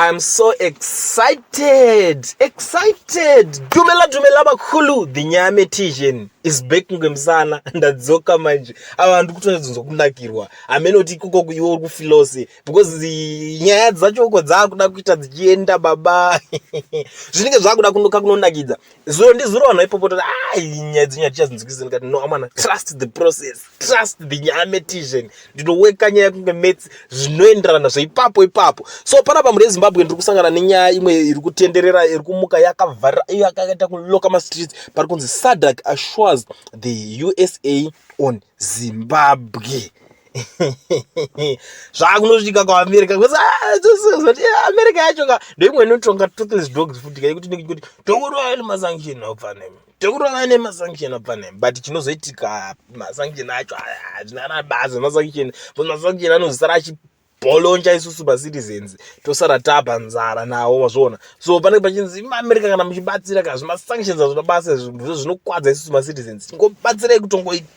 I'm so excited, excited. Dumela dumela bakhulu, the nyame tijen is back ngemsana ndadzoka manje. Ava vantu kutonzwa kunakirwa. Ameno kuti kuko kuiwe uri kufilose because nyaya dzacho uko dzakuda kuita dzichienda baba. Zvinenge zvakuda kunoka kunonakidza. zuro ndizuro vanhu vaipopotera ai nyaya dzenyaya tichazvinzwikisa ndikati no amana trust the process trust the nyaya metition ndinoweka nyaya kunge metsi zvinoenderana zveipapo ipapo so panapa mune zimbabwe ndiri kusangana nenyaya imwe iri kutenderera iri kumuka yakavhara iyo yakaita kuloka mastreets pari kunzi sadak assures the usa on zimbabwe zvakunoitika kuamerica bcause ah, ah, america yacho ka ndoimwe inotonga toothless dogs futi ka yekuti nekuti tokurova nemasanction aupfanhem tokurova nemasanction aupfanhem but chinozoitika masanction acho aya hazvina na bazi masanction bcause masanction anozosara achi bolonja isusu macitizens tosara tapa nzara nawo wazviona so panenge pachinzi maamerica kana muchibatsira ka zvimasanctions azvina basa zvinokwadza isusu macitizens tingobatsirai kutongoita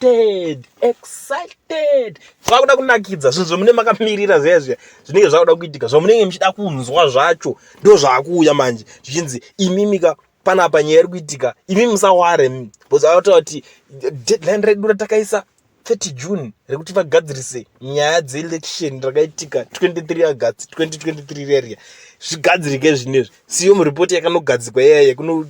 excited excited zvakuda kunakidza zvinhu zvamunenge makamirira zviya zviya zvinenge zvakuda kuitika zvamunenge muchida kunzwa zvacho ndo zvakuuya manje zvichinzi imimika panapa nyaya iri kuitika imi musaware bcause vataura kuti deadline redu ratakaisa 30 june rekuti vagadzirise nyaya dzeelection rakaitika 23 august 2023 reria zvigadzirike zvinezvi siyo muripoti yakanogadzikwa iyaya yekuno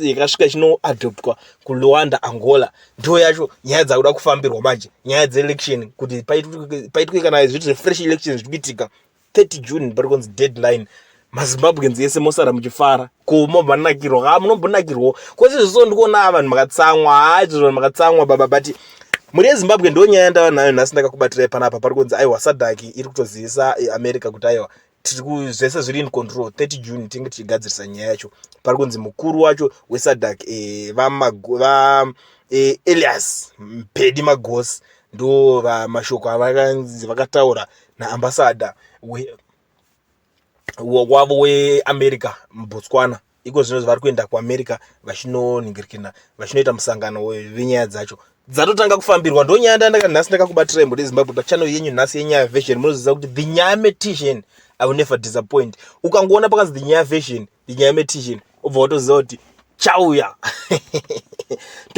yakasvika chinoadoptwa kuluanda angola ndo yacho nyaya dzakuda kufambirwa manje nyaya dzeelection kuti paitwe kana zviti zvefresh election zviri kuitika 30 june pari kunzi deadline mazimbabweans ese mosara muchifara ko mobvanakirwa ka munombonakirwawo kwese zviso ndikuona vanhu makatsamwa haa izvo vanhu makatsamwa baba but mhuri yezimbabwe ndo nyaya yandava nayo nhasi ndakakubatirai panapa pari kunzi aiwa sadaki iri kutozivisa america kuti aiwa tiri zvese zviri in control 30 june tinge tichigadzirisa nyaya yacho pari kunzi mukuru wacho wesadak e, va e, elias mpedi magosi ndo mashoko avakanzi vakataura naambasada wavo weamerica mubotswana iko zvino vari kuenda kuamerica vachinonhingirikina vachinoita musangano venyaya dzacho dzatotanga kufambirwa ndonyaya ndandaka nhasi ndakakubatira imbo rezimbabwe pachannel yenyu nhasi yenyaya version munoziva kuti the nyaya metician i will never disappoint ukangoona pakanzi the nyaya version the nyaya metician obva watoziva kuti chauya